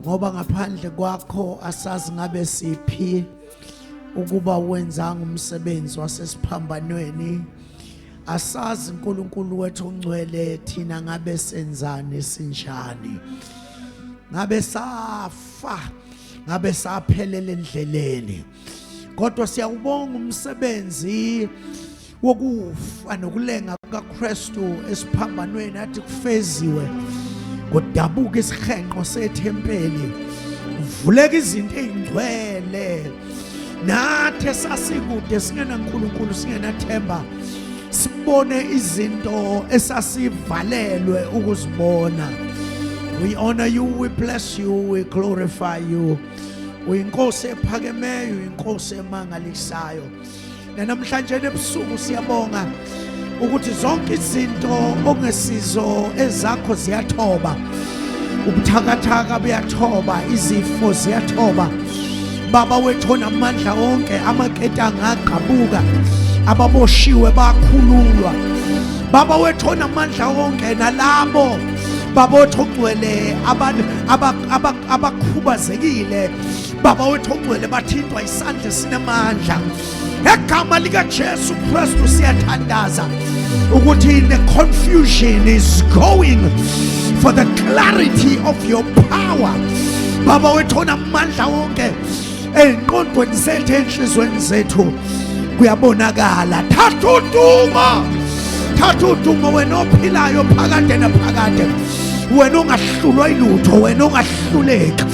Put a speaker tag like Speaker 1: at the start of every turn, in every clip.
Speaker 1: ngoba ngaphandle kwakho asazi ngabe siphi ukuba wenzanga umsebenzi wasesiphambanweni asazi uNkulunkulu wethu ongcwele thina ngabe senzani sinjani ngabe safa ngabe saphelele endleleni kodwa siyawubonga umsebenzi wokufa nokulenga kukaKristu esiphambanweni athi kufeziwe kudabuka isihenqo sethempeli kuvuleka izinto ezingcwele nathi esasikude singenaNkulunkulu singenathemba sibone izinto esasivalelwe ukuzibona we honor you we bless you we glorify you uyinkosi ephakemeyo uyinkosi emangalisayo nanamhlanje ebusuku siyabonga ukuthi zonke izinto okungesizo ezakho ziyathoba ubuthakathaka buyathoba izifo ziyathoba baba wethu onamandla onke amaketanga agqabuka ababoshiwe bakhululwa baba wethu onamandla onke nalabo baba wethu ogcwele abantu abakhubazekile baba wethu ongcwele bathintwa isandla esinamandla egama likajesu kristu siyathandaza ukuthi the confusion is going for the clarity of your power baba wethu onamandla wonke ey'nqondweni zethu ey'nhlizweni zethu kuyabonakala thatha udumo thatha udumo wena ophilayo phakade naphakade wena ongahlulwa ilutho wena ongahluleki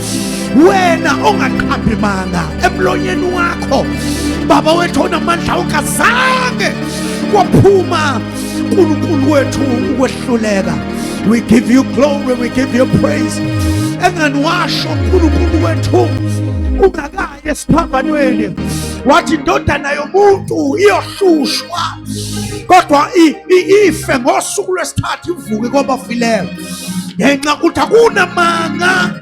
Speaker 1: wena ongaqhambi manga emlonyeni wakho baba wethu onamandla ungazange kwaphuma uNkulunkulu wethu ukwehluleka we give you glory we give you praise engani washo uNkulunkulu wethu ungakayi esiphambanweni wathi indodana yomuntu iyohlushwa kodwa ife ngosuku lwesithathu ivuke kwabafileyo ngenxa ukuthi akunamanga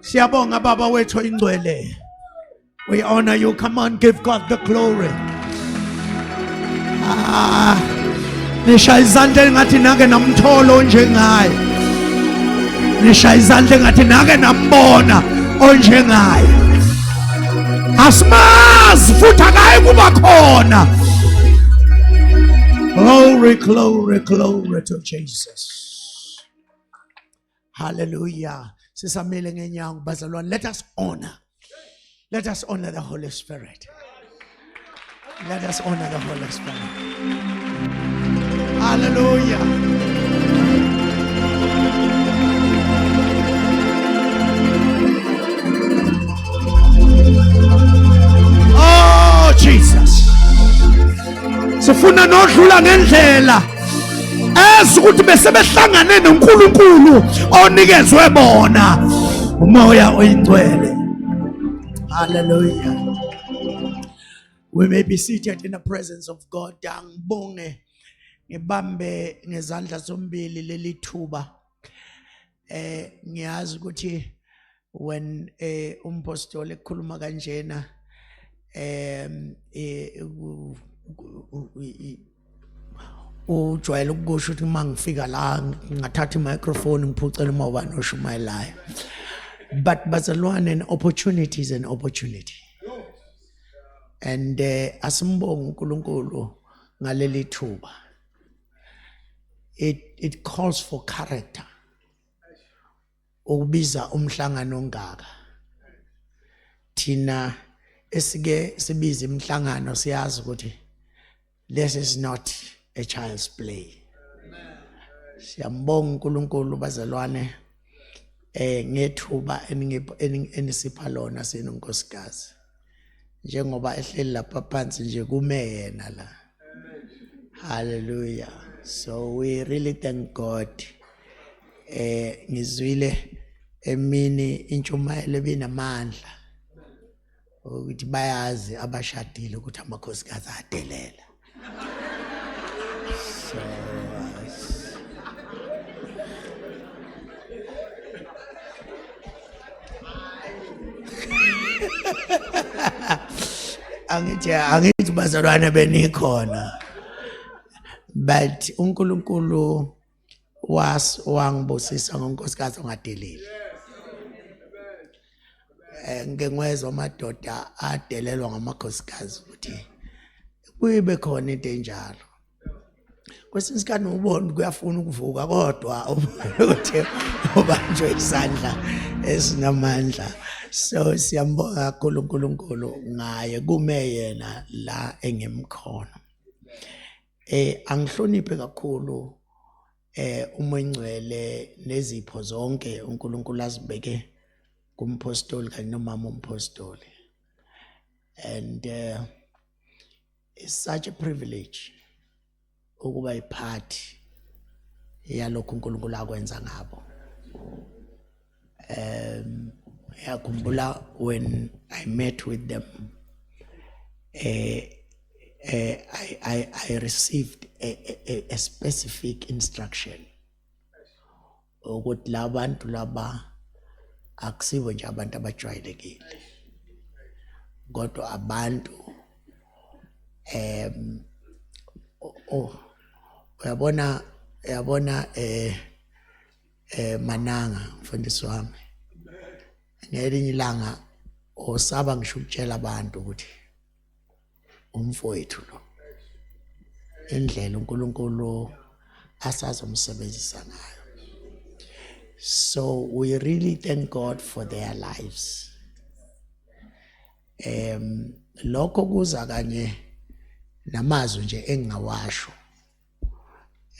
Speaker 1: Siyabonga baba wethu ingcwele. We honor you. Come on, give God the glory. Ah, nisha izandla engathi nake namthola onjengaye. Nisha izandla engathi nake nambona onjengaye. Asimazi futhi akayi kuba khona. Glory, glory, glory to Jesus. Hallelujah. Sisamile ngenyawo bazalwane. Let us honor. Let us honor the Holy Spirit. Let us honor the Holy Spirit. Hallelujah. Oh, Jesus. sifuna nodlula ngendlela ezi ukuthi besebehlangane noNkulunkulu onikezwe bona umoya oyingcwele haleluya we may be seated in the presence of God angibonge ngibambe ngezandla zombili leli thuba eh ngiyazi ukuthi when eh umpostoli ekhuluma kanjena em eh ujwayele ukusho ukuthi uma ngifika la ngingathatha i-microphone ngiphucele uma ubani oshumayelayo but bazalwane an opportunity is an opportunity and uh, asimbonge uNkulunkulu ngaleli thuba it it calls for character ukubiza umhlangano ongaka thina esike sibiza imhlangano siyazi ukuthi this is not a child's play siyambonga uNkulunkulu bazalwane eh ngethuba enisipha lona senu nkosikazi njengoba ehleli lapha phansi nje kume yena la hallelujah so we really thank god eh ngizwile emini intshumayelo ebinamandla ukuthi bayazi abashadile ukuthi amakhosikazi adelela So, angithi angithi bazalwane benikhona but uNkulunkulu was wangibusisa ngonkosikazi ongadeleli eh ngike ngwezwa amadoda adelelwa ngamakhosikazi ukuthi kuyibe khona into enjalo kwesinye isikhathi ubona kuyafuna ukuvuka kodwa ukuthi ubanjwe isandla esinamandla so siyambonga kakhulu uNkulunkulu ngaye kume yena la engimkhona Eh angihloniphe kakhulu eh uma ingcwele nezipho zonke uNkulunkulu azibeke kumpostoli kanye nomama umpostoli and uh, it's such a privilege ukuba iphathi yalokho uNkulunkulu akwenza ngabo um yakhumbula when i met with them uh, uh, I, I, I received a, a, a specific instruction ukuthi labantu laba akusibo nje abantu abajwayelekile kodwa abantu em oh uyabona uyabona eh eh mananga mfundisi wami ngelinye ilanga osaba ngisho ukutshela abantu ukuthi umfowethu lo indlela uNkulunkulu asazomsebenzisa ngayo so we really thank God for their lives em lokho kuza kanye namazwi nje engingawasho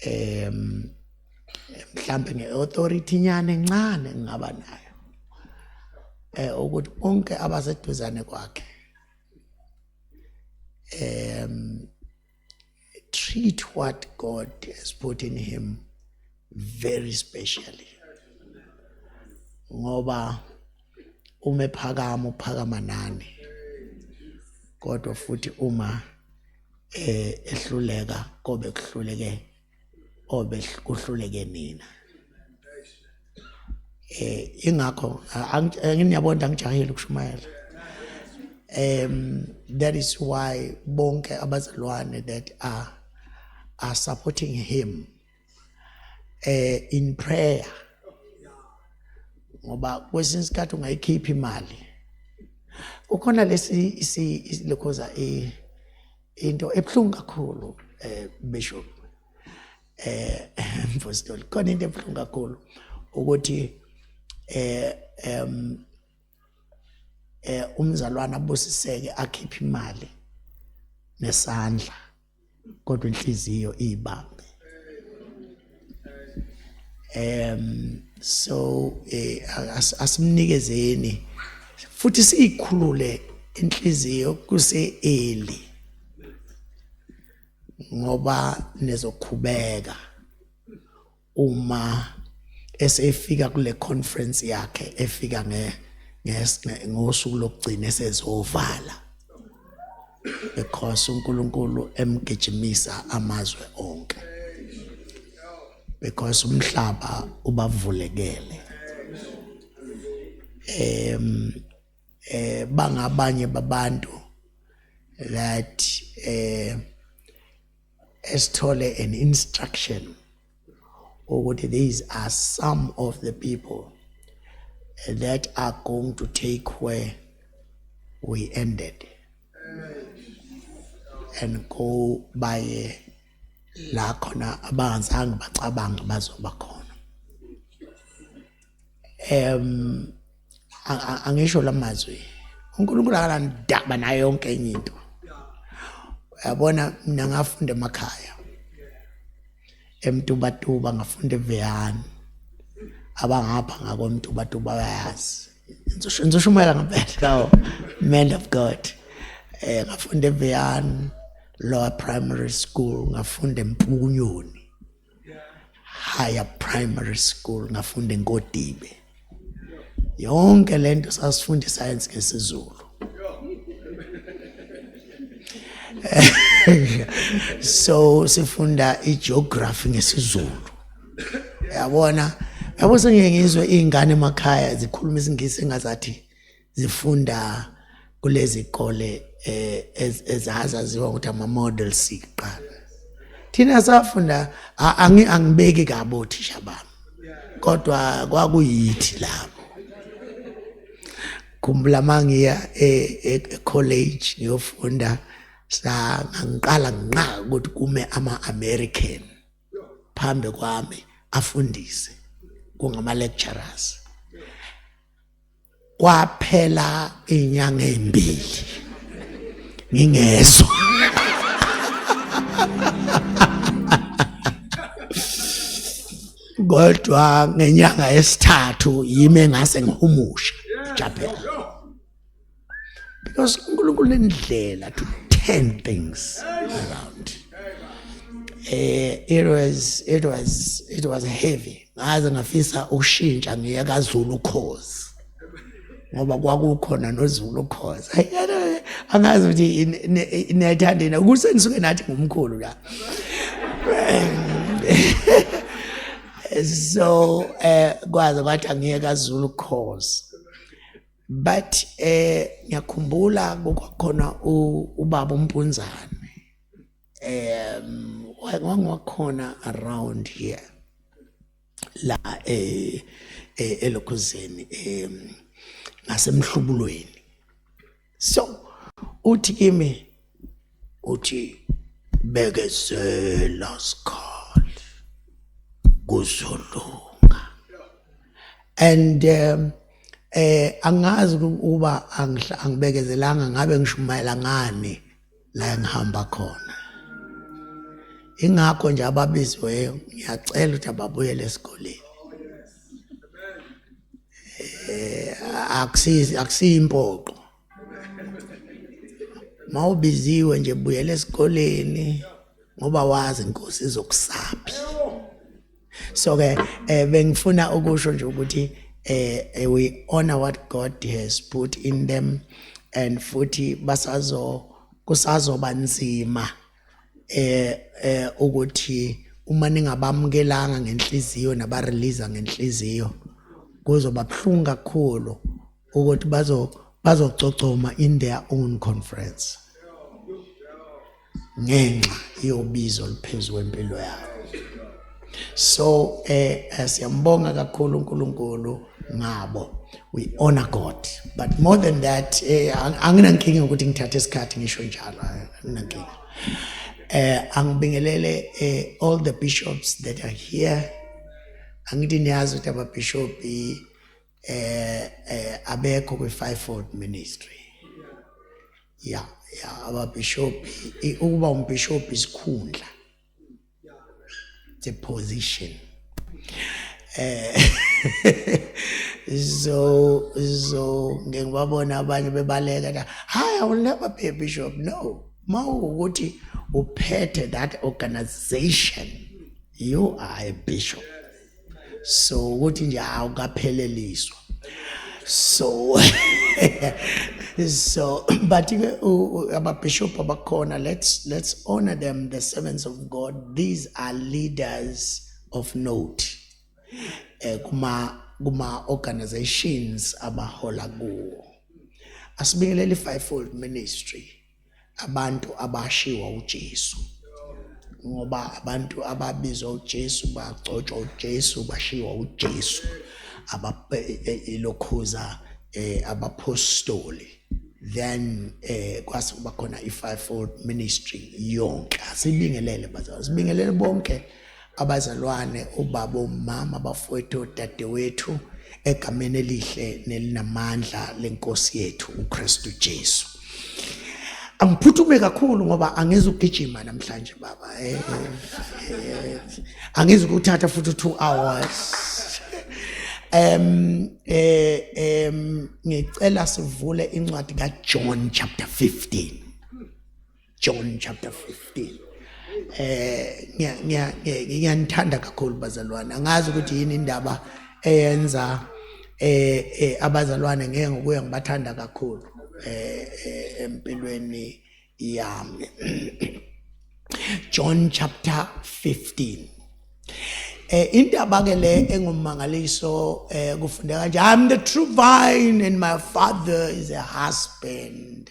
Speaker 1: em mhlambe ngeauthority nyane encane ngingaba nayo eh ukuthi bonke abaseduzane kwakhe em treat what God has put in him very specially ngoba uma ephakama uphakama nani kodwa futhi uma eh ehluleka kobe kuhluleke obe kuhluleke nina eh ingakho anginiyabona eh, angijahile ukushumayela um that is why bonke abazalwane that are are supporting him eh in prayer ngoba kwesinye isikhathi ungayikhipha imali ukhona lesi isi lokhoza e into ebhlungu kakhulu eh bishop eh mfostoli khona into ebhlungu kakhulu ukuthi eh em eh umzalwana abusiseke akhiphe imali nesandla kodwa inhliziyo ibambe um so eh, asimnikezeni futhi siyikhulule inhliziyo kuse early ngoba nezokhubeka uma esefika kule conference yakhe efika nge ngosuku lokugcina esezovala because uNkulunkulu emgijimisa amazwe onke because umhlaba ubavulekele em eh bangabanye babantu that eh esithole an instruction ukuthi these are some of the people that are going to take where we ended and go baye la khona abangazange bacabange bazoba khona em angisho lamazwi uNkulunkulu akanandaba nayo yonke enye into yabona mina ngafunda emakhaya emtubatuba ngafunda eveyani abangapha ngakomtubatuba bayazi ngizoshumayela ngempela man of god eh ngafunda eveyani lower primary school ngafunda empukunyoni higher primary school ngafunda enkodibe yonke lento sasifunda iscience ngesizulu so sifunda igeography ngesizulu yabona yabo sengiyengizwe izingane emakhaya zikhuluma isingisi engazathi zifunda kulezi kole eh, ezazaziwa ukuthi ama-model siqala thina safunda angibeki kabi othisha bami kodwa kwakuyithi lapho khumbula uma ngiya e-college e, e ngiyofunda sangangiqala nginqa ukuthi kume ama-american phambi kwami afundise kungama-lecturers kwaphela inyanga ezimbili ngingezwa kodwa ngenyanga yesithathu yime ngase ngihumusha japhela because uNkulunkulu indlela to turn things around eh it was it was it was heavy ngaze ngafisa ukushintsha ngiye kaZulu ukhozi ngoba kwakukhona noZulu ukhozi angazi ukuthi niyayithandina kuse nisuke nathi ngumkhulu la so eh kwaze kwathi angiye kaZulu ukhozi but eh ngiyakhumbula kwakhona ubaba umpunzana um wangiwakhona around here la eh, eh elokhuzeni um ngasemhlubulweni so uthi kimi uthi bekezela sikhali kuzolunga and um, eh angazi ukuba angibekezelanga ngabe ngishumayela ngani la engihamba khona ingakho nje ababiziweyo ngiyacela ukuthi ababuyele esikoleni eh akusizi akusiyimpoqo mawubiziwe nje buyela esikoleni ngoba wazi inkosi izokusaphi so ke eh, bengifuna ukusho nje ukuthi eh, eh we honor what God has put in them and futhi basazo kusazoba nzima eh eh ukuthi uma ningabamukelanga ngenhliziyo nabarelease ngenhliziyo kuzoba buhlungu kakhulu ukuthi bazo bazococoma in their own conference ngenxa yobizo liphezulu empilo yabo so eh, eh siyambonga kakhulu uNkulunkulu ngabo we honor god but more than that eh anginankinga ukuthi ngithathe isikhathi ngisho njalo anginankinga eh angibingelele eh, all the bishops that are here angithi niyazi ukuthi ababishop eh eh abekho kwi fivefold ministry ya ya ababishop ukuba umbishop isikhundla the position eh so so ngeke babona abanye bebaleka hayi i will never be a bishop no mawukuthi uphethe that organization you are a bishop so ukuthi nje hawu kapheleliswa so so but ababishop abakhona let's let's honor them the servants of god these are leaders of note eh kuma kuma organizations abahola kuwo asibingelele fivefold ministry abantu abashiwa uJesu ngoba abantu ababizwa uJesu bagcotshwa uJesu bashiwa uJesu ababelokhuza e, e, eh, abapostoli then eh kwase kuba khona i fivefold ministry yonke asibingelele bazalwane sibingelele bonke abazalwane, obaba, omama, abafowethu, odadewethu, egameni elihle nelinamandla lenkosi yethu uKristu Jesu. Angiphuthume kakhulu ngoba angizi ukugijima namhlanje baba. Eh, eh, eh, angizi ukuthatha futhi 2 hours. Em eh em ngicela sivule incwadi kaJohn chapter 15. John chapter 15 eh ngiya ngiyanithanda kakhulu bazalwane angazi ukuthi yini indaba eyenza eh, eh abazalwane ngeke ngokuya ngibathanda kakhulu eh, eh empilweni yami John chapter 15 eh indaba ke le engumangaliso eh kufundeka nje I'm the true vine and my father is a husband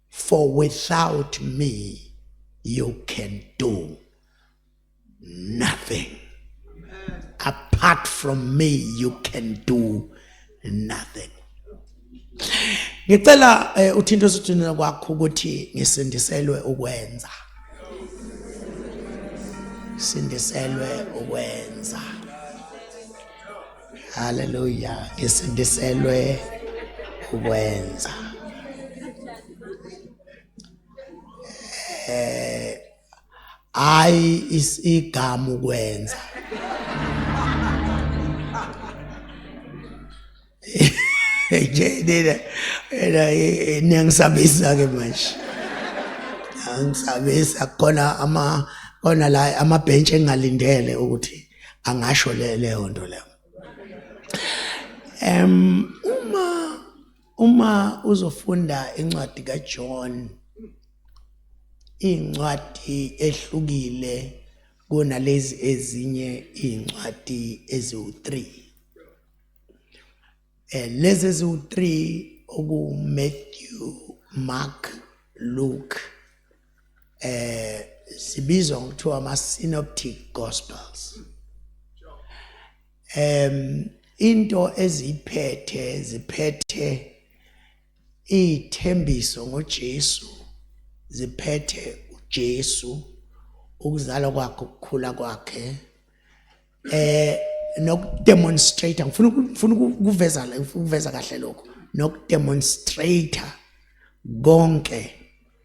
Speaker 1: for without me you can do nothing apart from me you can do nothing ngicela eh, uthinto sithunela kwakho ukuthi ngisindiselwe ukwenza sindiselwe ukwenza Haleluya. Ngisindiselwe ukwenza. Eh ayi isigama ukwenza. Nje nina nina niyangisabisa ke manje. Angisabisa khona ama khona la amabhentshe engalindele ukuthi angasho le leyo nto leyo em uma uma uzofunda incwadi kaJohn incwadi ehlukile kunalezi ezinye incwadi eziwu3 Eh lezi eziwu3 oku Matthew, Mark, Luke eh
Speaker 2: sibizwa ngokuthiwa ama synoptic gospels. Em into eziphethe ziphethe ithembiso ngoJesu ziphethe uJesu ukuzalwa kwakhe ukukhula kwakhe eh nokudemonstrate ngifuna ngifuna ukuveza ukuveza kahle lokho nokudemonstrate konke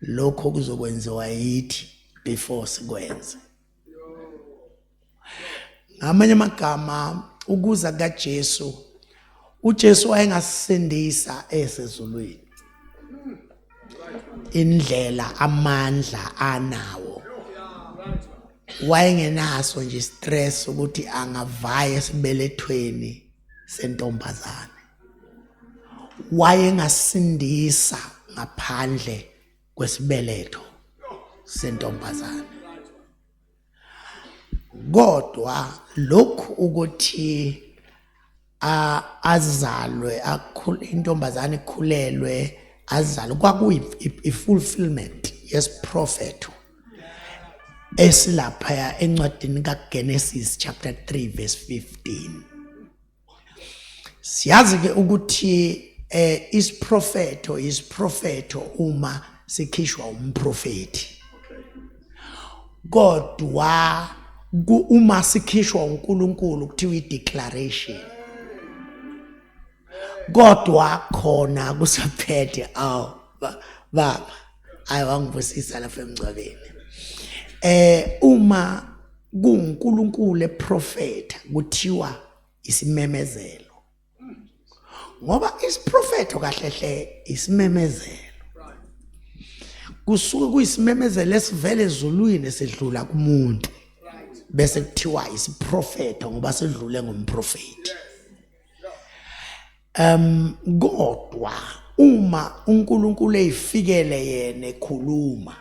Speaker 2: lokho kuzokwenziwa yithi before sikwenze ngamanye amagama ukuza kaJesu uJesu wayengasindisa esezulwini indlela amandla anawo wayengenaso nje stress ukuthi angavaya esibelethweni sentombazane wayengasindisa ngaphandle kwesibeletho sentombazane kodwa lokhu ukuthi azalwe akhule intombazane ikhulelwe azalwe kwakuyi fulfillment yesiprofetho esilaphaya encwadini kaGenesis chapter 3 verse 15 siyazi ke ukuthi eh isiprofeto isiprofeto uma sikhishwa umprofeti kodwa uma sikhishwa uNkulunkulu kuthiwa ideclaration kodwa khona kusaphethe aw baba hayi wangibusisa lapha emngcwabeni eh uma kuNkulunkulu eprofetha kuthiwa isimemezelo ngoba isiprofetho kahle hle isimemezelo kusuke kuyisimemezelo esivele ezulwini esidlula kumuntu bese kuthiwa isiprofetho ngoba sedlule ngomprofeti Um kodwa uma uNkulunkulu eyifikele yena ekhuluma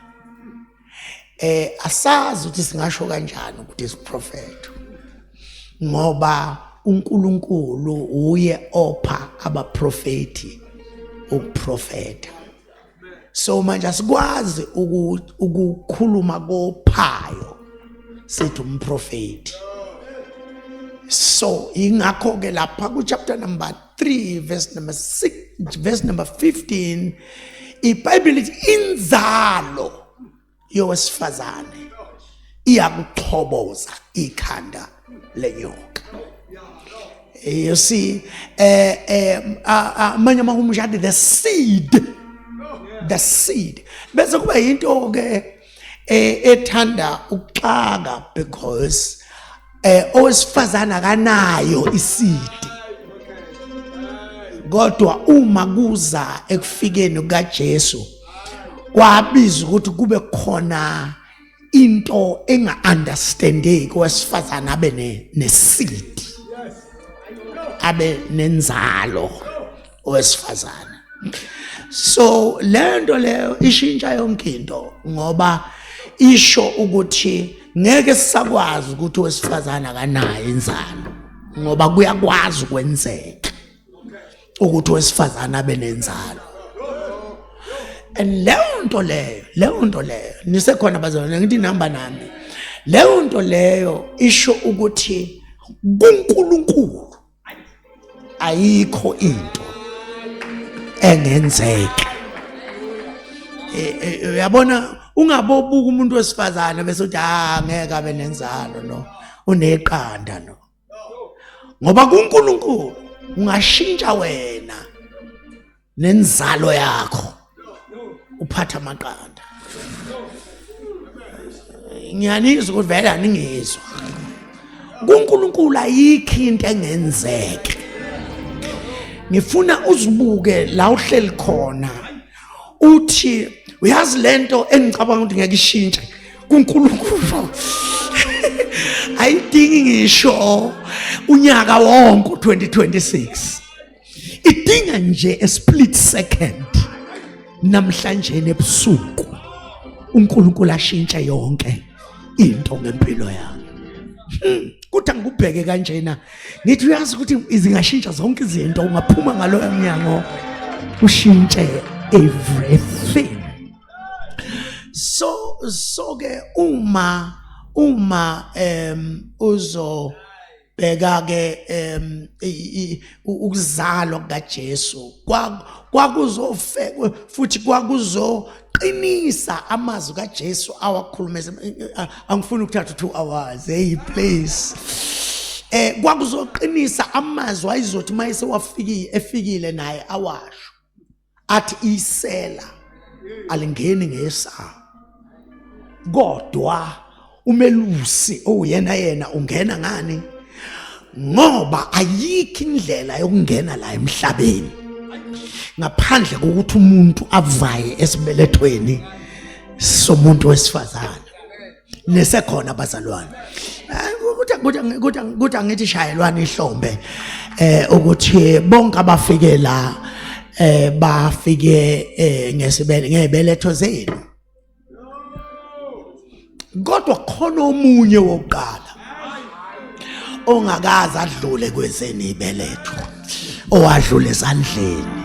Speaker 2: eh asazi ukuthi singasho kanjani ukuthi isiprofeto ngoba uNkulunkulu uye opha abaprofeti ukuprofeta so manje asikwazi ukukhuluma kophayo sithi umprofeti so ingakho ke lapha ku chapter number 3 verse number 6 verse number 15 ibhayibheli lithi inzalo yowesifazane iyakuxhoboza ikhanda lenyoka eh, you see eh eh amanye uma umshadi the seed the seed bese kuba into ke eh, ethanda ukuxaka because eh owesifazana akanayo isidi kodwa uma kuza ekufikeni kukaJesu kwabiza ukuthi kube khona into enga understandeki wesifazana abe ne nesidi abe nenzalo owesifazane so lento leyo ishintsha yonke into ngoba isho ukuthi ngeke sisakwazi ukuthi owesifazane akanayo inzalo ngoba kuyakwazi ukwenzeka ukuthi owesifazane abe nenzalo and leyo nto leyo leyo nto leyo nisekhona bazalwane ngithi nihamba nami leyo nto leyo isho ukuthi kuNkulunkulu ayikho into engenzeka e, e, uyabona ungabobuka umuntu wesifazane bese uthi ah ngeke abe nenzalo no uneqanda no ngoba kuNkulunkulu ungashintsha wena nenzalo yakho uphatha amaqanda ngiyanizwa ukuthi vele aningizwa kuNkulunkulu ayikho into engenzeke ngifuna uzibuke la uhleli khona uthi uyazi lento engicabanga ukuthi ngeke ishintshe kuNkulunkulu ayidingi ngisho unyaka wonke 2026 idinga nje a split second namhlanje ebusuku uNkulunkulu ashintshe yonke into ngempilo yami hmm, kuthi angikubheke kanjena ngithi uyazi ukuthi izingashintsha zonke izinto ungaphuma ngaloyo mnyango ushintshe everything so so ke uma uma um uzo bheka ke em ukuzalwa kukaJesu kwakuzofe futhi kwakuzoqinisa amazwi kaJesu awakhulume angifuni ukuthatha 2 hours hey please eh kwakuzoqinisa amazwi ayizothi mayese wafikile efikile naye awasho athi isela alingeni ngesango kodwa umelusi owuyena yena ungena ngani ngoba ayikho indlela yokungena la emhlabeni ngaphandle kokuthi umuntu avaye esibelethweni somuntu wesifazane nisekhona abazalwane kuthi angithi shayelwana ihlombe eh ukuthi bonke abafike la eh bafike eh, ngesibele ngebeletho zenu kodwa khona omunye wokuqala ongakaze adlule kwezeni ibeletho owadlula esandleni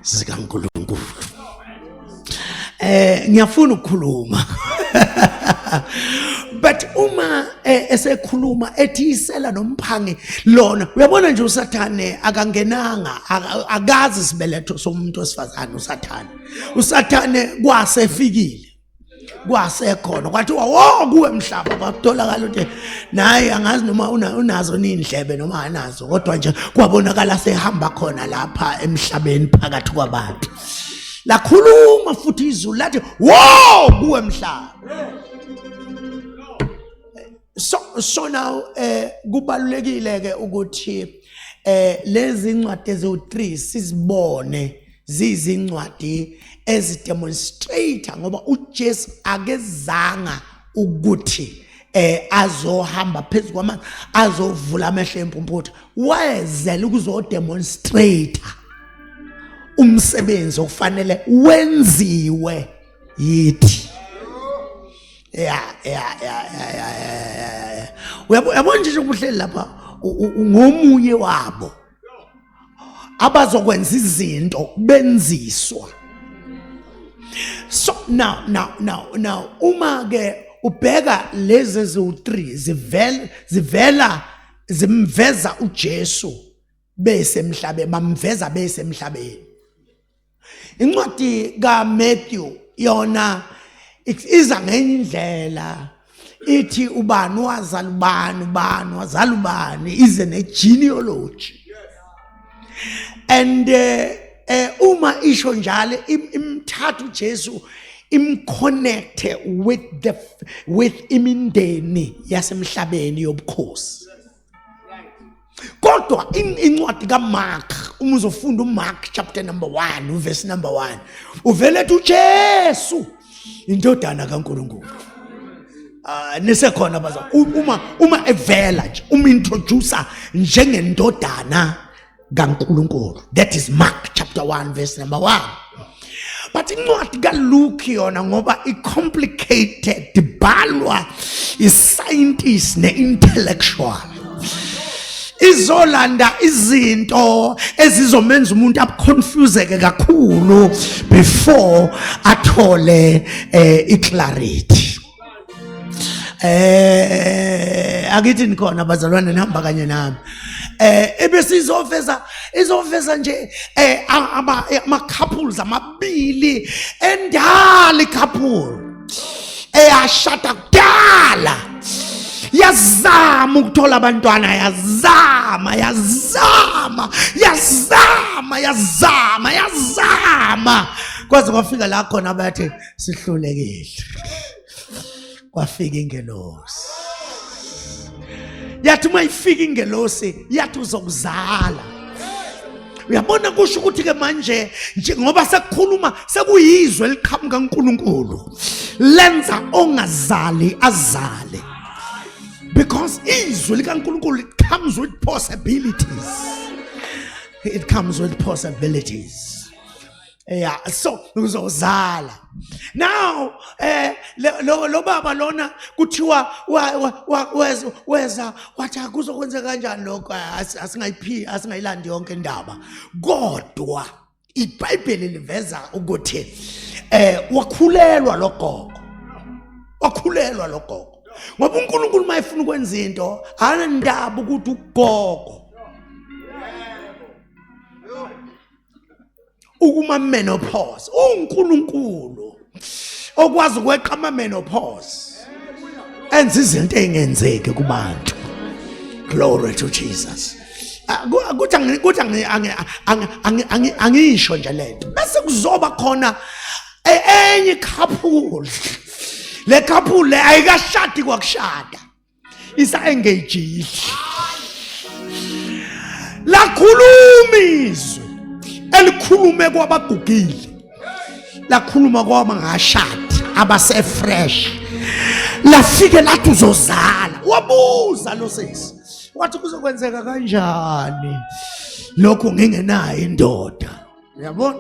Speaker 2: zikaNkulunkulu eh ngiyafuna ukukhuluma but uma eh, esekhuluma ethisela nomphangi lona uyabona nje usathane akangenanga akazi sibeletho somuntu wesifazane usathane usathane kwasefikile kwasekhona kwathiwa wo kuwe mhlaba kwatholakala ukuthi naye angazi noma unazo nindlebe noma anazo kodwa nje kwabonakala sehamba khona lapha emhlabeni phakathi kwabantu lakhuluma futhi izulu lathi wo kuwe mhlaba so so now eh kubalulekile ke ukuthi eh lezi ncwadi eziwu3 sizibone ziyizincwadi ezidemonstrator ngoba uJesu akezanga ukuthi eh azohamba phezulu kwamanzi azovula amehlo empumputha wayezela ukuzodemonstrator umsebenzi okufanele wenziwe yithi ya ya ya ya ya uyabona nje ukuhleli lapha ngomunye wabo abazokwenza izinto benziswa so now now now now uma ke ubheka lezi eziwu-3 zivela zivela zimveza uJesu besemhlabeni bamveza besemhlabeni incwadi kaMatthew yona iza ngenye indlela ithi ubani wazala ubani ubani wazala ubani ize ne-genealogy and um uma isho njalo imthatha ujesu imconnecte with the with imindeni yasemhlabeni yobukhosi kodwa incwadi kamark uma uzofunda umark chapter number one uvesi number one uvele ethi ujesu indodana kankulunkulu Uh, nisekhona baza uma uma evela nje uma introducer njengendodana kaNkulunkulu that is Mark chapter 1 verse number 1 but incwadi kaLuke yona ngoba icomplicated ibhalwa iscientist neintellectual izolanda izinto ezizomenza umuntu abuconfuseke kakhulu before athole eh, iclarity eh akithi nikhona bazalwane nihamba kanye nami eh ebese izofeza izofeza nje eh ama ama couples amabili endali couple eyashada kudala yazama ukuthola abantwana yazama yazama yazama yazama yazama kwaze kwafika la khona bathi sihlulekile kwafika ingelosi yathi uma ifika ingelosi yathi uzokuzala uyabona kusho ukuthi ke manje njengoba sekukhuluma sekuyizwe eliqhamuka uNkulunkulu lenza ongazali azale because izwi likaNkulunkulu it comes with possibilities it comes with possibilities Yeah, so uzozala. Now eh lo lo baba lona kuthiwa weza weza wathi akuzokwenza kanjani lokho asingayiphi asingayilandi yonke indaba. Kodwa iBhayibheli liveza ukuthi eh wakhulelwa logogo. Wakhulelwa logogo. Ngoba uNkulunkulu mayefuna ukwenza into, anandaba ukuthi ugogo ukuma menopause uNkulunkulu okwazi ukweqa ama menopause enza izinto engenzeki kubantu glory to Jesus ukuthi ah, ukuthi angisho nje lento bese kuzoba khona e-, enye couple le couple ayikashadi kwakushada isa-engagile lakhuluma izwi elikhulume kwabagugile lakhuluma kwabangashadi abasefresh lafike lathi uzozala wabuza lo sesi wathi kuzokwenzeka kanjani lokho ngingenayo indoda uyabona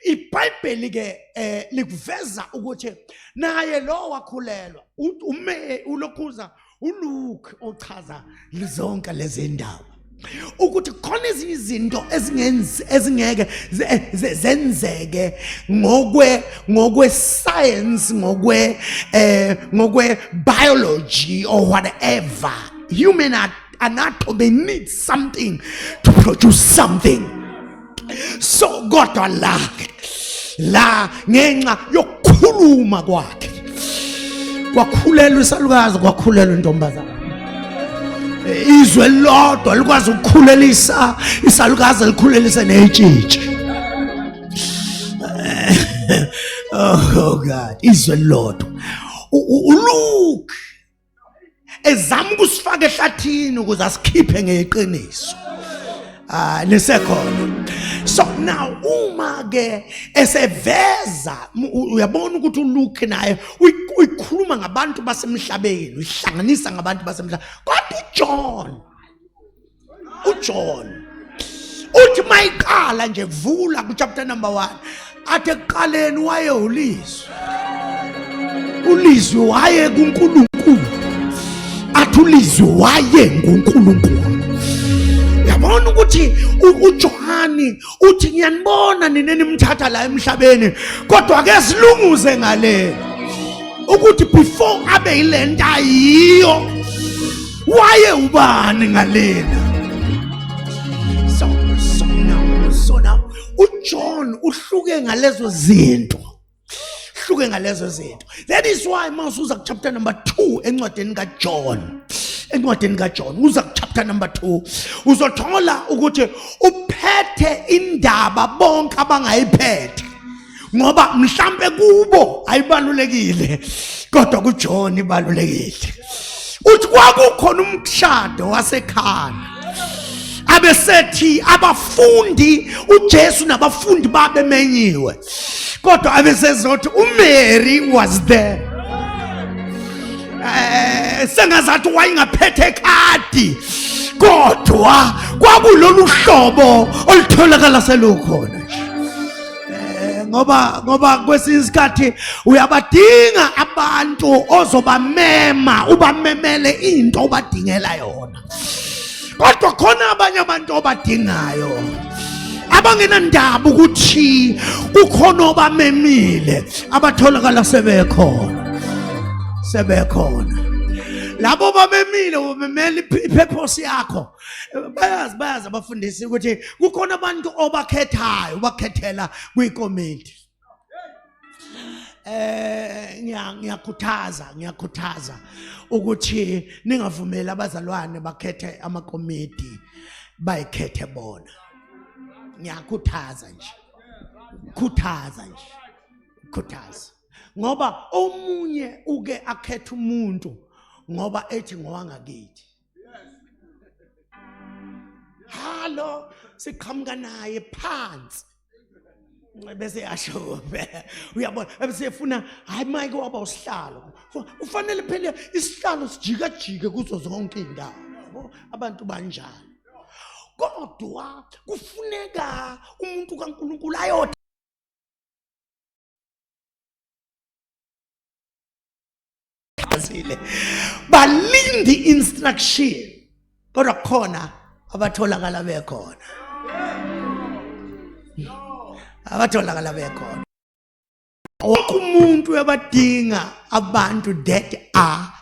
Speaker 2: ibhayibheli ke eh likuveza ukuthi naye lo wakhulelwa ume ulokhuza uLuke ochaza zonke lezi ndaba ukuthi khona ezinye izinto ezingenzi ezingeke zenzeke ngokwe ngokwe science ngokwe eh ngokwe biology or whatever human anakho they need something to produce something so kodwa la la ngenxa yokukhuluma kwakhe kwakhulelwa isalukazi kwakhulelwa intombazana izwe lodwa likwazi ukukhulelisa isalukazi likhulelise netshitshi oh god izwe lodwa uluke ezama ukusifaka ehlathini ukuze asikhiphe ngeqiniso ah lisekhona so now uma ke eseveza uyabona ukuthi uLuke naye uyikhuluma ngabantu basemhlabeni uyihlanganisa ngabantu basemhlabeni kodwa uJohn uJohn uthi mayiqala nje kuvula ku chapter number 1 athe kuqaleni waye ulizwe ulizwe waye kuNkulunkulu athi ulizwe waye nguNkulunkulu yabona ukuthi uJohani uthi ngiyanibona nina nimthatha la emhlabeni kodwa ke silunguze ngale ukuthi before abe yilento ayiyo waye ubani ngalena so so now so now uJohn uhluke ngalezo zinto hluke ngalezo zinto that is why uma usuza kuchapter number 2 encwadini kaJohn encwadini kaJohn uza kuchapter number 2 uzothola ukuthi uphethe indaba bonke abangayiphethe ngoba mhlambe kubo ayibalulekile kodwa kuJohn ibalulekile uthi kwakukhona umshado wasekhaya abesethi abafundi uJesu nabafundi babe menyiwe kodwa abesezothi uMary was there eh sengazathi wayengaphethe khadi kodwa kwakulolu hlobo olutholakala selukhona eh, ngoba ngoba kwesinye isikhathi uyabadinga abantu ozobamema ubamemele into obadingela yona kodwa khona abanye abantu obadingayo abangenandaba ukuthi kukhona obamemile abatholakala sebekhona sebekhona labo bamemile ubemela ipurpose yakho bayazi bayazi abafundisi ukuthi kukhona abantu obakhethayo ubakhethela kwikomiti eh ngiyakhuthaza ngiyakhuthaza ukuthi ningavumeli abazalwane bakhethe amakomiti bayikhethe bona ngiyakhuthaza nje khuthaza nje khuthaza ngoba omunye uke akhethe umuntu ngoba ethi ngowangakithi halo siqhamuka naye phansi bese yasho kuphela uyabona ebesefuna hayi mike waba usihlalo ufanele phela isihlalo sijikajike kuzo zonke iy'ndawo yabo abantu banjalo kodwa kufuneka umuntu kaNkulunkulu ayothe bazile balinde instruction kodwa khona abatholakala bekhona abatholakala bekhona wonke umuntu ebadinga abantu that are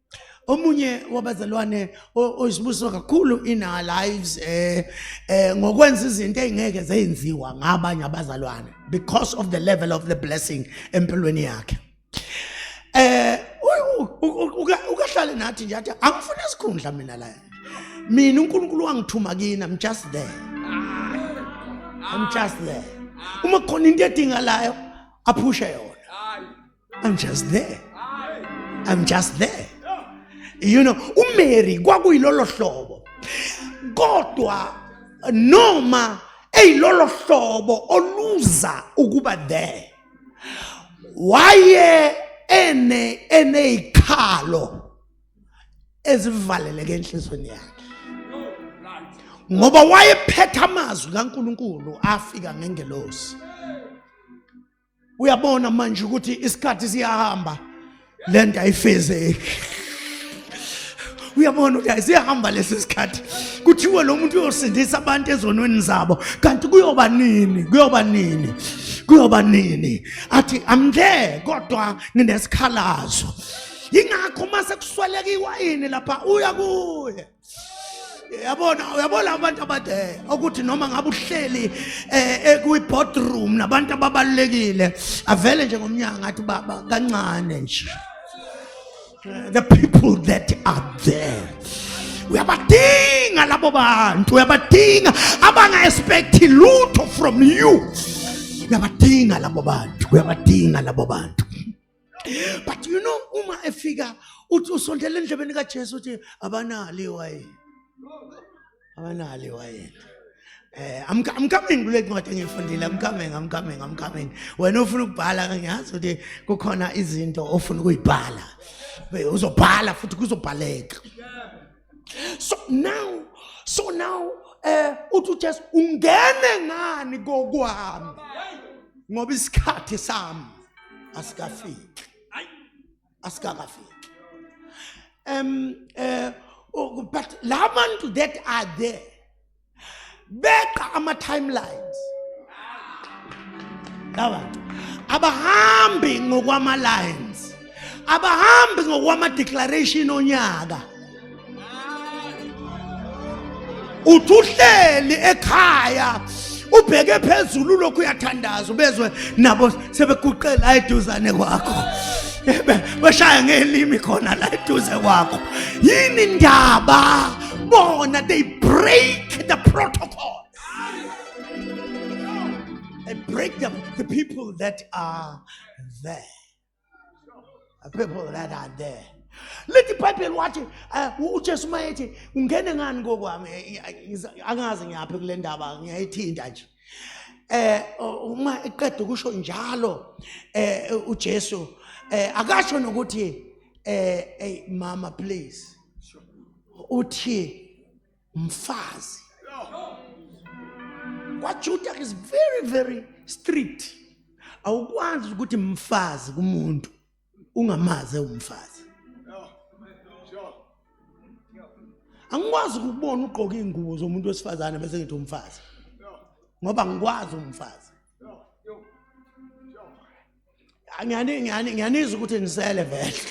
Speaker 2: omunye wabazalwane oyisibusiso kakhulu in our lives eh eh ngokwenza izinto ezingeke zenziwa ngabanye abazalwane because of the level of the blessing empilweni yakhe eh ukahlale nathi nje athi angifuna isikhundla mina la mina uNkulunkulu wangithuma kini i'm just there i'm just there uma khona into edingalayo aphushe yona I'm just there. I'm just there. You know, uMary kwakuyilolo hlobo. Kodwa noma eyilolo hlobo oluza ukuba there. Waye ene eneyikhalo ezivaleleke enhlizweni yakhe. ngoba wayephetha amazwi kaNkuluNkulu afika ngengelosi uyabona manje ukuthi isikhathi siyahamba le nto ayifezeki uyabona ukuthi ayisihamba lesi sikhathi kuthiwe lo muntu uyosindisa abantu ezonweni zabo kanti kuyoba nini kuyoba nini kuyoba nini athi i'm there kodwa nginesikhalazo yingakho uma sekuswelekiwa yini lapha uya kuye yabona uyabona abantu abade ukuthi noma ngabe uhleli ekwi-boardroom eh, nabantu ababalulekile avele nje ngomnyanga athi baba kancane nje the people that are there uyabadinga labo bantu uyabadinga abanga-expecti lutho from you uyabadinga labo bantu uyabadinga labo bantu but you know uma efika uthi usondela endlebeni kaJesu uthi abanali wayini abanali wayini Eh, I'm, I'm coming kule ncwadi engiyifundile I'm coming I'm coming I'm coming wena ufuna ukubhala ngiyazi ukuthi kukhona izinto ofuna ukuyibhala uzobhala futhi kuzobhaleka so now so now eh uthi uJesu ungene ngani kokwami ngoba isikhathi sami asikafiki asikakafiki um uh, but labantu that are there beqa ama-timelines laba abahambi ngokwama-lines abahambi ngokwama-declaration onyaka uthi uhleli ekhaya ubheke phezulu lokhu uyathandaza ubezwe nabo sebeguqe la eduzane kwakho bashaya ngelimi khona la eduze kwakho yini ndaba bona they break the protocol they break the, the people that are there the people that are there lithi ibhayibheli wathi eh, ujesu uma ethi ungene ngani kokwami eh, eh, angazi ngiyaphi kule ndaba ngiyayithinta nje eh uma eqeda ukusho njalo eh uJesu eh akasho nokuthi eh hey mama please uthi mfazi kwaJuda is very very strict awukwazi ukuthi mfazi kumuntu ungamaze umfazi angikwazi ukubona ugqoka izingubo zomuntu wesifazane bese ngithi umfazi ngoba ngikwazi umfazi ngiyani ngiyani ngiyanizwa ukuthi nisele vele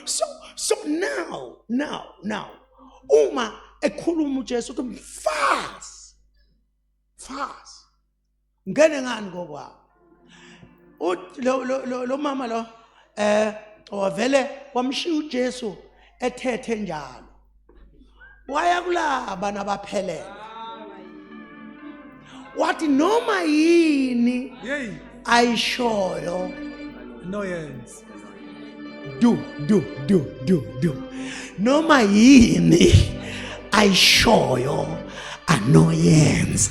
Speaker 2: so so now now now uma ekhuluma uJesu ukuthi mfazi mfazi ngene ngani kokwabo lo mama lo eh wavele wamshiya uJesu ethethe njalo waya kulaba nabaphelele wathi noma yini ayishoyo
Speaker 3: noyenza
Speaker 2: do do do do do noma yini ayishoyo anoyenza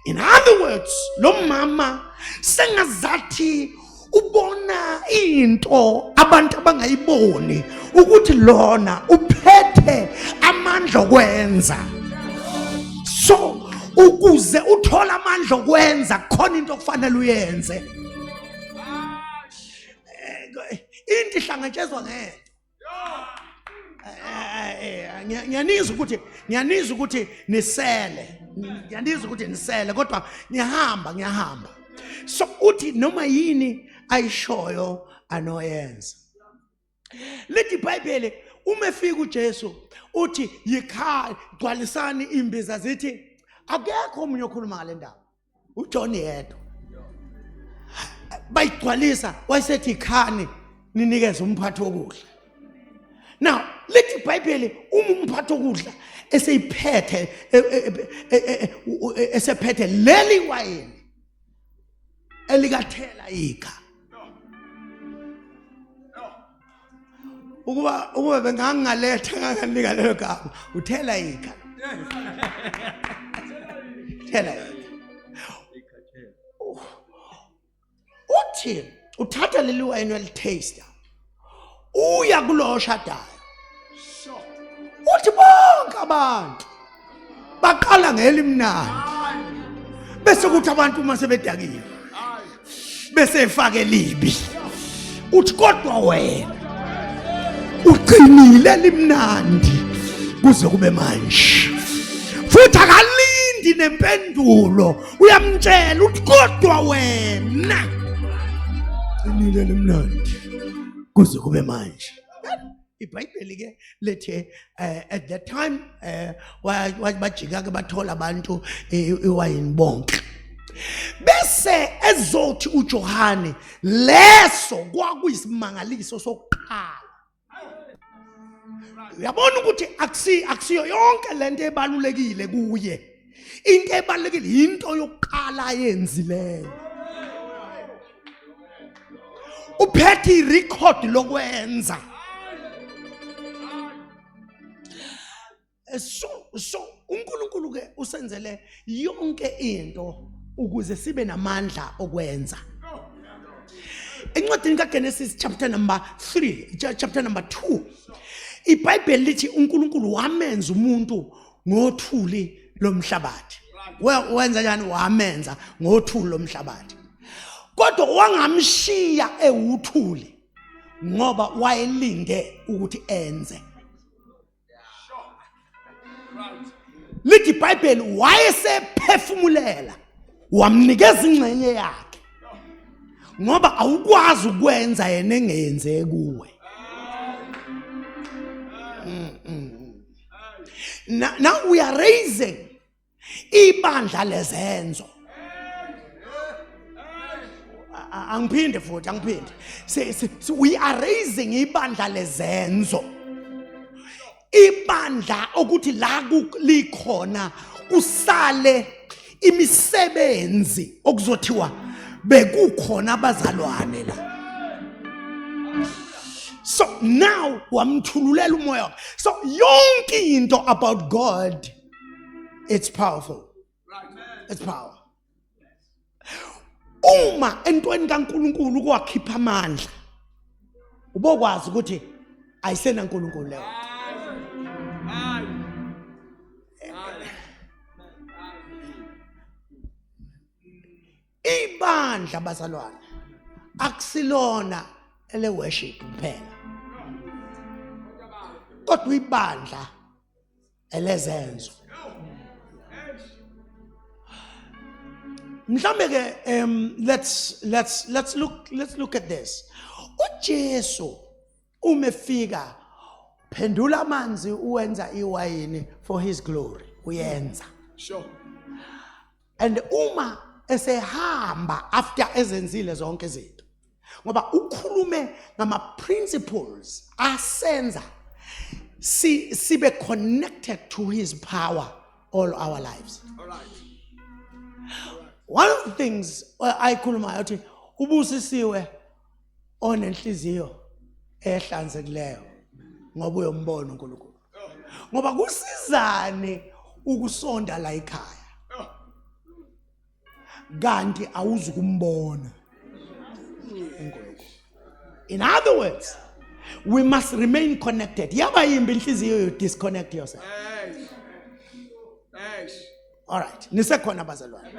Speaker 2: in other words lo mama sengazathi ubona into abantu abangayiboni ukuthi lona uphethe amandla okwenza so ukuze uthole amandla okwenza khona into okufanele uyenze into ihlangatshezwa ngento ngiyanizwa ukuthi ngiyanizwa ukuthi nisele ngiyanizwa ukuthi nisele kodwa ngiyahamba ngiyahamba so uthi noma yini ayishoyo anoyenza lithi ibhayibheli uma efika uJesu uthi yikhaya gcwalisani imbiza zithi akekho omunye okhuluma ngale ndaba uJohn yedwa bayigcwalisa wayesethi khani ninikeze umphathi wokudla now lithi ibhayibheli uma umphathi wokudla eseyiphethe e, e, e, esephethe leli wayini elikathela ikha ukuba ukuba bengangaletha nganganika lelo gama uthela ikha thela ikha uthi uthatha leli wayini welitaster uya kulowo oshadayo uthi bonke abantu baqala ngelimnandi bese kuthi abantu uma sebedakile bese efake libi uthi kodwa wena uqinile limnandi kuze kube manje futhi akalindi nempendulo uyamtshela uthi kodwa wena qinile limnandi kuze kube manje ibhayibheli ke lithi um at that time um bajika ke bathola abantu iwayini bonke bese ezothi uJohane leso kwakuyisimangaliso sokuqala uyabona ukuthi akusiyo yonke lento ebalulekile kuye into ebalulekile yinto yokuqala ayenzileyo uphethe irecord lokwenza so so uNkulunkulu ke usenzele yonke into ukuze sibe namandla okwenza encwadini kaGenesis chapter number 3 chapter number 2 iBhayibheli lithi uNkulunkulu wamenza umuntu ngothuli lomhlabathi wenza njani wamenza ngothuli lomhlabathi kodwa wangamshiya ewuthuli ngoba wayelinde ukuthi enze lithi ibhayibheli wayesephefumulela wamnikeza ingxenye yakhe ngoba awukwazi ukwenza yena engenze kuwe mm -mm. now, now we are raising ibandla lezenzo angiphinde futhi angiphinde we are raising ibandla lezenzo ibandla okuthi la likhona kusale imisebenzi okuzothiwa bekukhona abazalwane la so now wamthululela umoya so yonke into about god it's powerful it's power uma entweni kaNkuluNkulu kwakhipha amandla ubokwazi ukuthi ayisenaNkuluNkulu leyo ibandla bazalwane akusilona ele worship kuphela kodwa ibandla elezenzo mhlambe ke um let's let's let's look let's look at this uJesu uma efika phendula amanzi uwenza iwayini for his glory uyenza
Speaker 1: sure
Speaker 2: and uma esehamba after ezenzile zonke izinto ngoba ukhulume ngama principles asenza si sibe connected to his power all our lives all right one of the things uh, ayikhulumayo uthi ubusisiwe onenhliziyo ehlanzekileyo ngoba uyombona uNkulunkulu ngoba kusizane ukusonda la ekhaya kanti awuzukumbona uNkulunkulu in other words we must remain connected yaba yimbi inhliziyo you disconnect yourself Alright, nisekhona abazalwane.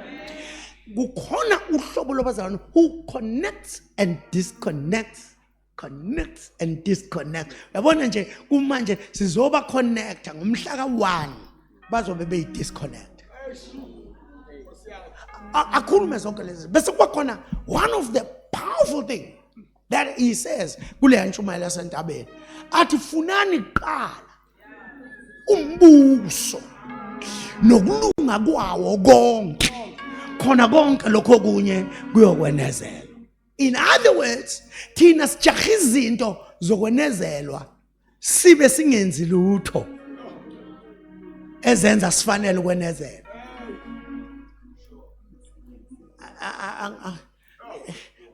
Speaker 2: Kukhona uhlobo lwabazalwane who connects and disconnects connects and disconnects. Yabona nje kumanje sizoba connecta ngomhla ka-1 bazobe beyi-disconnect. Akhulume zonke lezi bese kuba khona one of the powerful thing that he says kule ntshumayelo yasentabeni athi funani kuqala umbuso nokulunga kwawo konke khona konke lokho kunye kuyokwenezelwa in other words thina sijaha izinto zokwenezelwa sibe singenzi lutho ezenza sifanele ukwenezela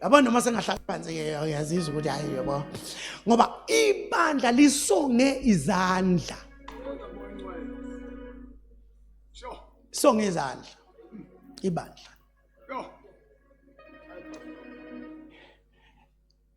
Speaker 2: yabo noma sengahlala phansi uyazizwa ukuthi hayi yabo ngoba ibandla lisonge izandla songe izandla ibandla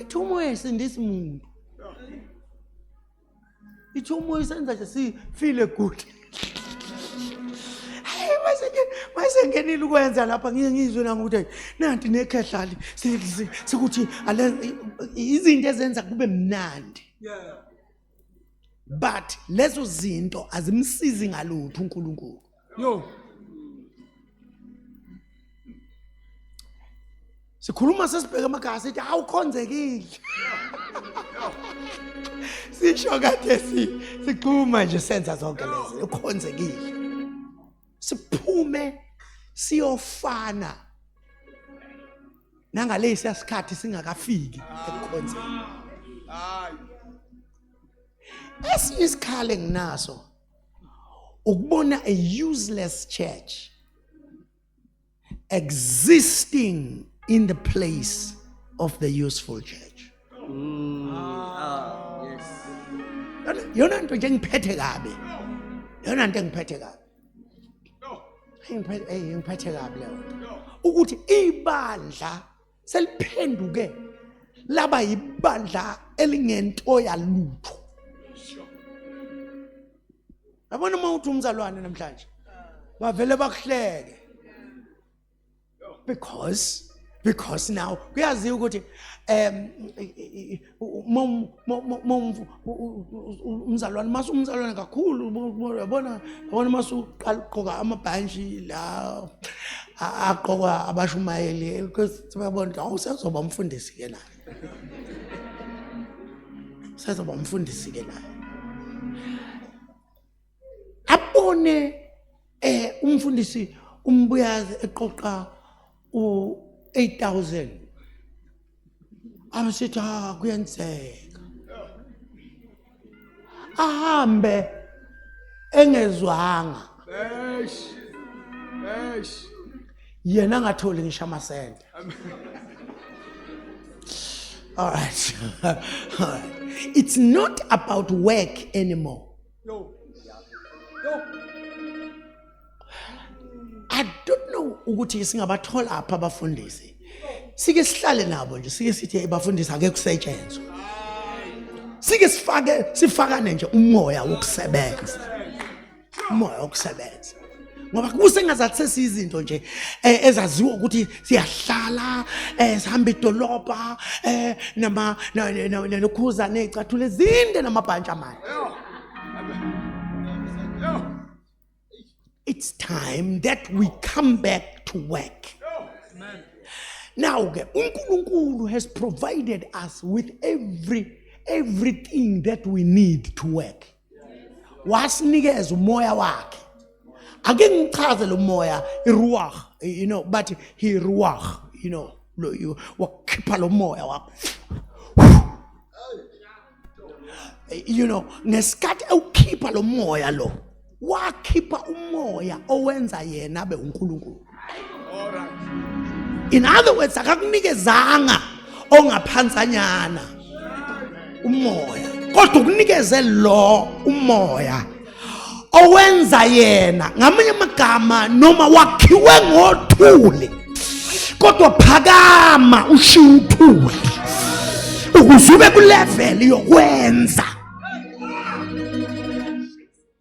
Speaker 2: ithi umoya esindisa umuntu ithi umoya isenza nje sifile good mayisengenile ukwenza lapha ngiye ngizwe nami ukuthi nanti nekhehlali sikuthi izinto ezenza kube mnandi but lezo zinto azimsizi ngalutho uNkulunkulu Yo. Sikhuluma sesibheke emakhaya sithi awukhonzekile. Sisho kade si sikhuluma nje senza zonke lezi ukhonzekile. Siphume siyofana nangalesi asikhathi singakafiki ekukhonzeni. Hayi. Esinye isikhale nginaso ukubona a useless church existing in the place of the useful church mm, ah, yes yona nto nje ngiphethe kabi yona nto engiphethe kabi ngiphethe kabi leyo ukuthi ibandla seliphenduke laba yibandla elingento yalutho yabona uma uthi umzalwane namhlanje bavele bakuhleke because because now kuyaziwa ukuthi um umzalwane mase umzalwane kakhulu yabona yabona mase uqala ugqoka amabhantshi la agqokwa abashumayeli bayabona awu sezoba umfundisi-ke naye sezoba umfundisi-ke naye abone eh umfundisi umbuyazi eqoqa u8000 amsithi ha ah, kuyenzeka ahambe engezwanga eish eish yena ngatholi ngisho amasente all right it's not about work anymore Yo. Yo. I don't know ukuthi singabathola apha abafundisi. Sike sihlale nabo nje sike sithi abafundisi ake kusetshenzwe. Sike sifake sifakane nje umoya wokusebenza. Umoya wokusebenza. ngoba kusengazathi sesiyizinto nje eh, ezaziwa ukuthi siyahlala eh, sihamba idolobha eh, nama nokhuza nezicathule ezinde namabhantshi amane it's time that we come back to work now ke uNkulunkulu has provided us with every everything that we need to work wasinikeza umoya wakhe ake ngichaze lo moya iruwah you know bathi he ruwah you know lo you wakhipha lo moya wakho you know ngesikhathi ewukhipha lo moya lo wakhipha umoya owenza yena abe uNkulunkulu in other words akakunikezanga ongaphansanyana umoya kodwa ukunikeze lo umoya owenza yena ngamanye amagama noma wakhiwe ngothuli kodwa phakama ushiya uthuli ukuze ube kuleveli yokwenza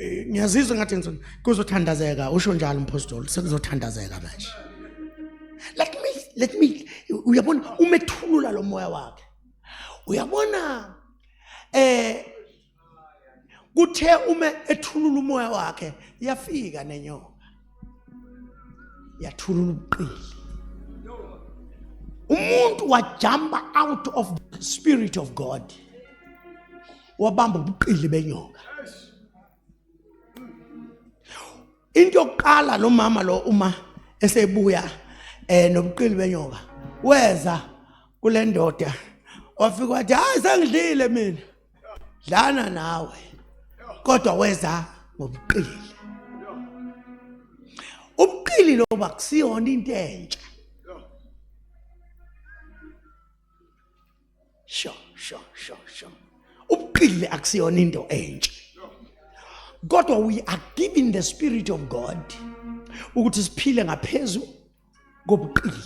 Speaker 2: Eh, ngiyazizwa ngathi ngizona kuzothandazeka usho njalo umpostoli sekuzothandazeka manje let me let me uyabona umethulula lo moya wakhe uyabona eh kuthe uma ethulula umoya wakhe yafika nenyoka yathulula ubuqili umuntu wajumpa out of the spirit of god wabamba ubuqili benyoka into yokuqala lo mama lo uma esebuya eh nobuqili benyoka weza kule ndoda wafika wathi hayi sengidlile mina dlana nawe kodwa weza ngobuqili ubuqili lo bakusiyona into entsha sho sho sho sho ubuqili akusiyona into entsha kodwa we are giving the spirit of god ukuthi siphile ngaphezulu kobuqili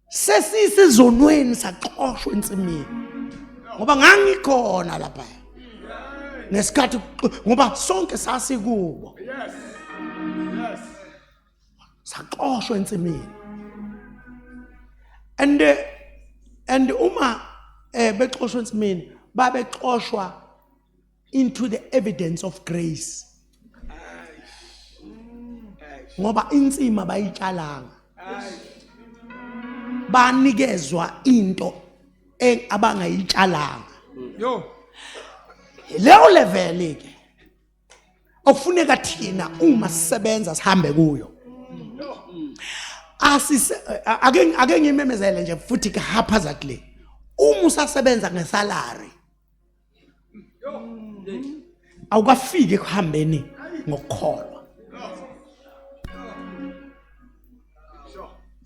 Speaker 2: sesisezonweni saxoshwa ensimini ngoba ngangikhona lapha ngesikhathi ngoba sonke sasikubo yes yes saxoshwa ensimini and eh, and uma eh bexoshwa ensimini babexoshwa into the evidence of grace ngoba insima bayitshalanga banikezwa into abangayitshalanga yo leyo level ke okufuneka thina uma sisebenza sihambe kuyo asise ake ake ngimemezele nje futhi haphazardly uma usasebenza ngesalary awukafiki ekuhambeni ngokukholwa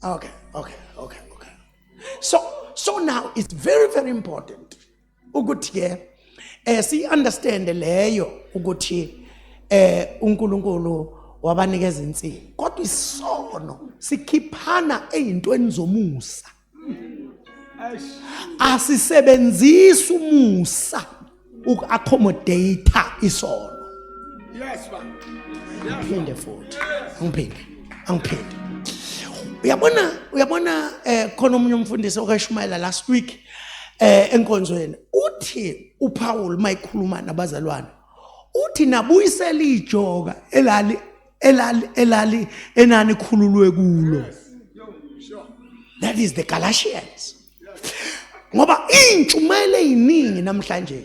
Speaker 2: okay okay okay okay so so now it's very very important ukuthi ke eh si understand leyo ukuthi eh uNkulunkulu wabanikeza insini kodwa isono sikhiphana ezintweni zomusa asisebenzisi umusa uku-accommodate isono yes ngiphinde futhi angiphinde angiphinde uyabona uyabona eh khona omunye umfundisi okashumayela last week eh enkonzweni uthi uPaul mayikhuluma nabazalwane uthi nabuyisela ijoka elali elali elali enani khululwe kulo that is the galatians ngoba intshumayelo eziningi namhlanje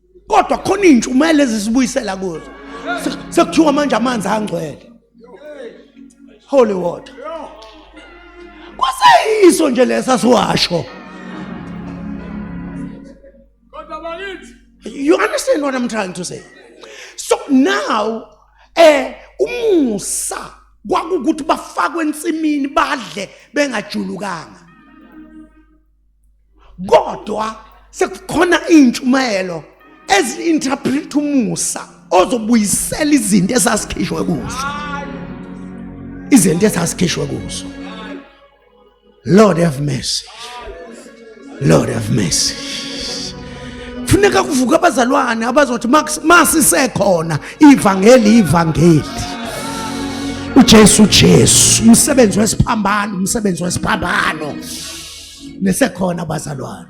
Speaker 2: kodwa khona iy'ntshumayelo ezisibuyisela kuzo sekuthiwa manje amanzi angcwele holy water kwaseyiso nje lesa siwasho you understand what i'm trying to say so now eh umusa kwakukuthi bafakwe ensimini badle bengajulukanga kodwa sekukhona iy'ntshumayelo ezi-interpret umusa ozobuyisela izinto esasikhishwe kuzo izinto esasikhishwe kuzo lord have mercy lord have mercy kufuneka kuvuka abazalwane abazothi masisekhona ivangeli ivangeli uJesu Jesu umsebenzi wesiphambano umsebenzi wesiphambano nesekhona bazalwane